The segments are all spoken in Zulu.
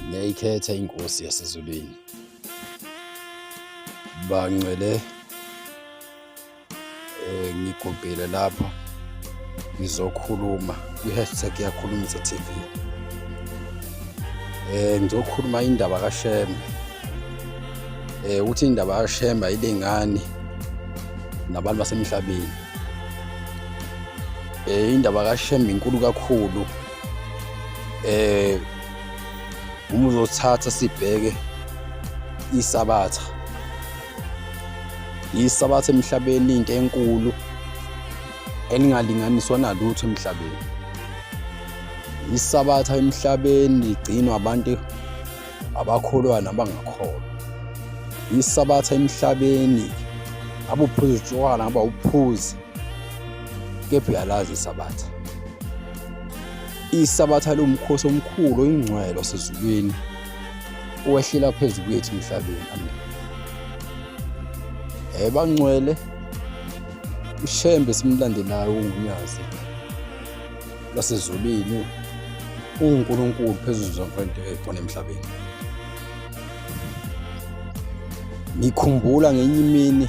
Ngiyayikhetha inkosi yasezulwini. Bangcwele eh ngigobhile lapha ngizokhuluma kwi-hashtag yakhulumisa TV. Eh ngizokhuluma indaba kaShembe. Eh uthi indaba kaShembe ayilingani nabantu basemhlabeni. Eh indaba kaShembe inkulu kakhulu. eh uma uzothatha sibheke isabatha isabatha emhlabeni into enkulu elingalinganiswa nalutho emhlabeni isabatha emhlabeni ligcinwa abantu abakholwa nabangakholwa isabatha emhlabeni abuphuzi utshwala ngaba uphuzi kepha uyalazi isabatha isabatha lomkhosi omkhulu oyingcwelo sezulwini owehlela phezu kwethu emhlabeni amen eh bangcwele ushembe simlandelayo ungunyazi lasezulwini uNkulunkulu phezulu zonke into ekhona emhlabeni ngikhumbula ngenye imini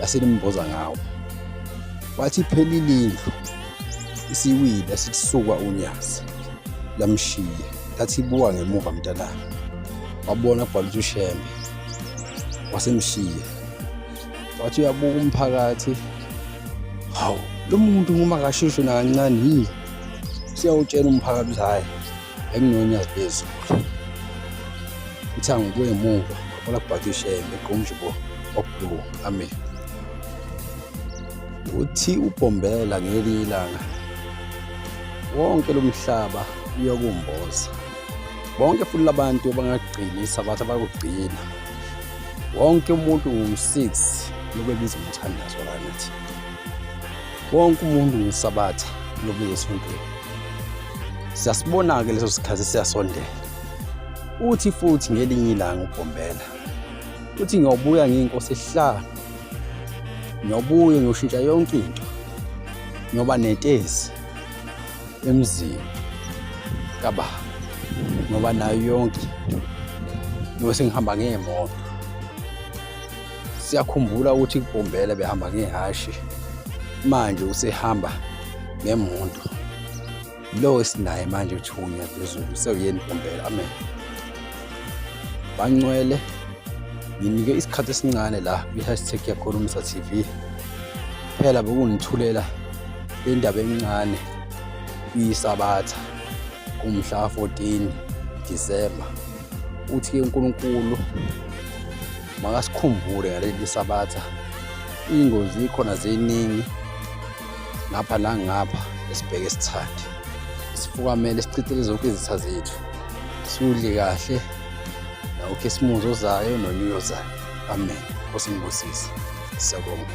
laselimboza ngawo wathi iphela ilindlu isiwile sisuka unyazi lamshiya lathi ibuka ngemuva mntanami wabona kubhala ukuthi ushembe wasemshiya wathi uyabuka umphakathi hawu lo muntu uma kashishwe nakancane yini siyawutshela umphakathi ukuthi hhayi enginonyazi lezulu ithango kuye muva ola kubhakishe ngequmjubo okubulu amen uthi ubhombela ngeli ilanga wonke lomhlaba uyokumboza bonke futhi labantu abangagcini isabatha bakugcina wonke umuntu ngu-6 lobebiza umthandazo lanathi wonke umuntu ngisabatha lobiza esontweni Siyasibona-ke leso sikhathi siyasondela. Uthi futhi ngelinye ilanga uBhombela uthi ngiyobuya ngiyinkosi esihlanu. Ngiyobuya ngiyoshintsha yonke into. Ngiyoba netezi emzini kababa ngoba nayo yonke into ngiyobe sengihamba ngemoto Siyakhumbula ukuthi kuBhombela behamba ngehhashi, manje usehamba ngemoto. Lo esinaye manje uthunya phezulu usewuyeni uBhombela. Amen. Bancwele nginike isikhathi esincane la kwi-hashtag yakhulumisa TV phela bekungithulela indaba encane iyisabatha umhla 14 December uthi uNkulunkulu Makasikhumbule ngaleli sabatha iy'ngozi ikhona ziningi ngapha nangapha esibheke sithande sifukamele sichithele zonke izitha zethu siwudle kahle nawukhisimuzi ozayo nonyulo ozayo amen osingibusise siyabonga